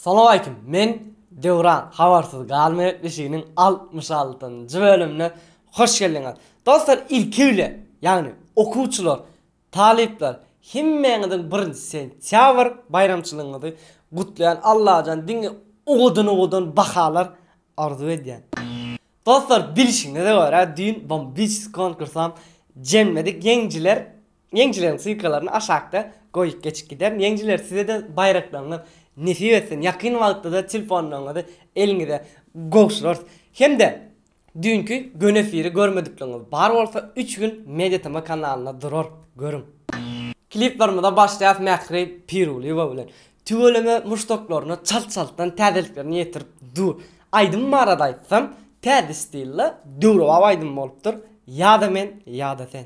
Salowaleýkim men Döwran habarsyz galma gepleşiginiň altmyş altynjy bölümine hoş geldiňiz. Dostlar ilki bilen ýagny okuwçylar Talyplar, hemmäňiziň birinji sentýabr baýramçylygyňyzy gutlaýan Allajan diňe ugudan-ugudan bahalar arzuw edýän. Dostlar bilşiňize görä düýn Bombicz konkursam jeňmedik ýeňjiler ýeňjileriň sylkalaryny aşakda goýup geçip giderin ýeňjiler sizede baýraklaryňyz nesip etsin ýakyn wagtda-da telefonlaryňyzy eliňize gowşurarys hemde Düýnki göni efiri görmedikligiňiz bar bolsa üç gün mediatema kanalynda durar görüň. Kliplarymyza başlaýas Mähri Pirulyýewa bilen. Tüweleme muşdaklaryna çalt çaltdan täzeliklerini ýetirip dur. Aýdym barada aýtsam täze stilde döwrebap aýdym bolupdyr, ýa-da men ýa-da sen.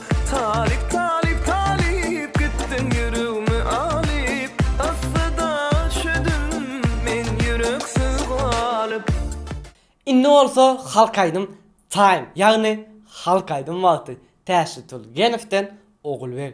Talyp talyp talyp gitdiň ýüregimi alyp Assada çödüm men ýüreksiz galyp. Indi bolsa halk aýdym time ýagny halk aýdym wagty Täşli Tulgenowden Ogulbeg.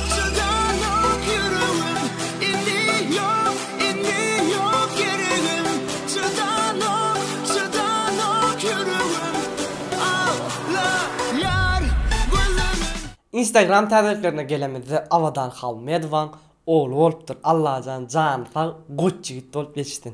Çydalok ýüregim indi ýok indi ýok geregim Çydalok çydalok ýüregim Aglaýar gözlerim. Instagram täzeliklerine gelemizde Abadan Halmedowaň ogly bolupdyr Allajan jany sag goç ýigit bolup ýetişsin.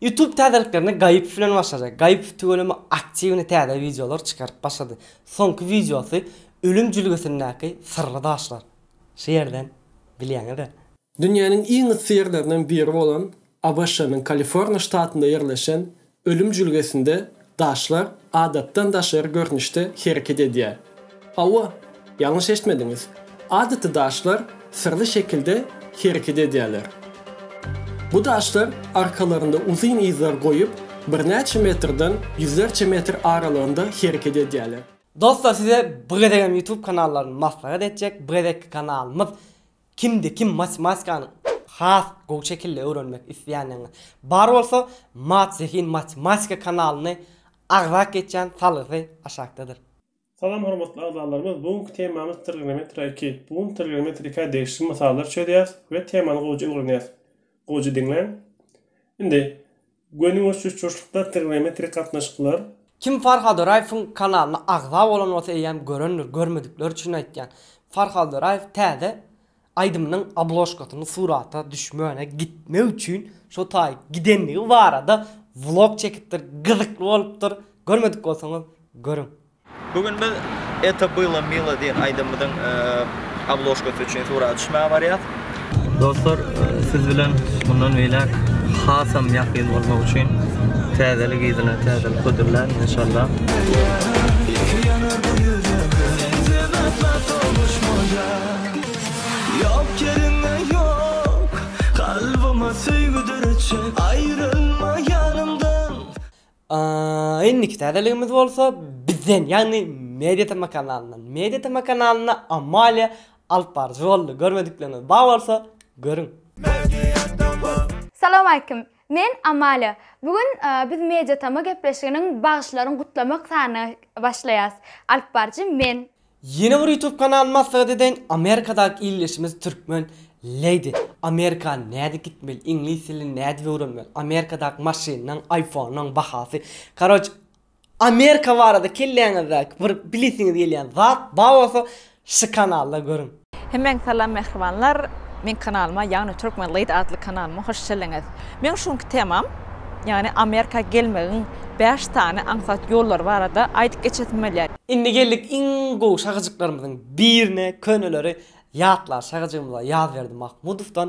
Youtube täzeliklerini Gaipov bilen başarýar. Gaipov tüweleme aktiwny täze wideolar çykaryp başlady. Soňky wideosy Ölüm jülgesindäki syrly daşlar. Şu ýerden bilýäňiz-ä. Dünýäniň iň yssy ýerlerinden biri bolan ABŞ-nyň Kaliforniýa ştatynda ýerleşen Ölüm jülgesinde Daşlar adatdan daşary görnüşde hereket edýär. Hawa, ýalňyş eşitmediňiz. Adaty daşlar syrly şekilde hereket edýärler. Bu daşlar arkalarynda uzyn yzlar goýup, birnäçe metrden ýüzlerçe metr aralygynda hereket edýärler. Dostlar size bu gezegem YouTube kanallaryny maslahat etjek bu gezekki kanalymyz Kimde kim matematikanyň has gowy şekilde öwrenmek isleýänlerine bar bolsa Mat Zehin Matematika kanalyny agzak geçýän salgysy aşakdadyr. Salam hormatly agzalarymyz bu günki temamyz Trigonometria iki. Bu gün trigonometrika degişli mysallar çözýäs we temany gowja öwrenýäs. Gowja diňläň. Indi. Gönübaşy uçuşlyklar, trigonometrik gatnaşyklar. Kim Farhad Oraýewiň kanalyna agza bolan bolsa eýýäm görendir, görmedikler üçin aýtýan. Farhad Oraýew täze aýdymynyň obložkasyny surata düşmäne gitmek üçin şo taý gidenligi barada vlog çekipdir, gyzykly bolupdyr, görmedik bolsaňyz görüň. Bu gün biz Eto Bilo Milo diýen aýdymymyzyň obložkasy üçin surata düşmäge barýas. Dostlar siz bilen mundan beýläk hasam ýakyn bolmak üçin täzelik yzyna täzelik hödürlän enşalla. A indiki täzeligimiz bolsa bizden, ýagny Media TM kanalyndan. Media TM kanalynda Amalia alyp baryjy boldy. Görmedikleriňiz bar bolsa, görüň. Salam aleýkum. Men Amalia. Bu gün biz Media TM gepleşiginiň bagyşlaryň gutlamak sanyna başlaýas. Alyp baryjy men. Ýene bir ýutub kanal maslahat edeýin Amerikadaky ildeşimiz türkmen Lady Amerika nädip gitmeli iňlis dilini nädip öwrenmeli Amerikadaky maşynlaň aýfonlaň bahasy karoç Amerika barada kelläňizdäki bir bilesiňiz gelýän zat bar bolsa şu kanalda görüň. Hemmäňe salam mähribanlar! Meň kanalyma ýagny Turkmen Lady atly kanalyma hoş çelleňiz! Meň şu günki temam ýagny Amerika gelmegiň bäş sany aňsat ýollary barada aýdyp geçesim gelýär. Indi geldik iň gowy şahyjyklarymyzyň birine köneleri ýatlar şahyjygymyza Ýazberdi Mahmudowdan.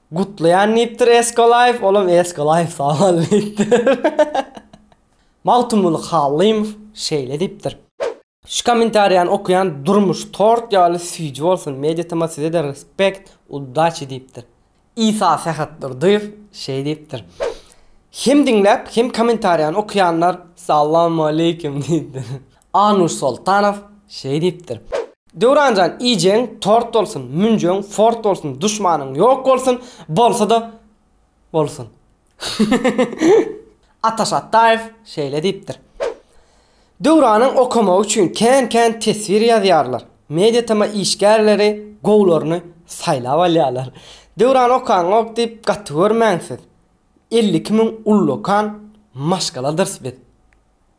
Gutlaýan diýipdir Eskolaýew, olam Eskolaýew sagbol diýipdir. Magtymguly Hallymow şeýle diýipdir. Şu komentariýany okaýan durmuş tort ýaly süýji bolsun media tma sizede respect udaçi diýipdir. Isa Sähetdurdyýew şeý diýipdir. Hem diňläp hem komentariýany okaýanlar sallamaleýkim diýipdir. Anuş Soltanow şeý diýipdir. Döwranjan iýjegiň tort bolsun, münjegiň fort bolsun, duşmanyň ýok bolsun, bolsa-da bolsun. Ataş Atdaýew şeýle diýipdir. Döwranyň okamagy üçin kän-kän teswir ýazýarlar. Mediatema işgärleri gowularyny saýlap alýarlar. Döwrany okaňok diýip gaty görmäň siz. Elli iki müň ullakan maşgaladyrys biz.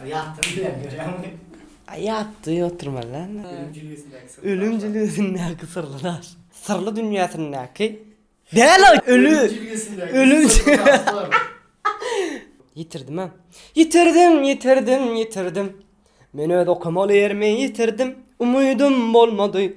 Ýatdy diýýän görýäňmi? Ýatdy oturmadan. Ölüm jülgesindäki syrly daşlar. Ölüm jülgesindäki syrly daş. Syrly dünýäsindäki däl o öli. Ölüm jülgesindäki ölüm syrly daşlar. Ýitirdim-ä. Ýitirdim, ýitirdim, ýitirdim. Men öz okamaly ýerimi ýitirdim. Umydym bolmady.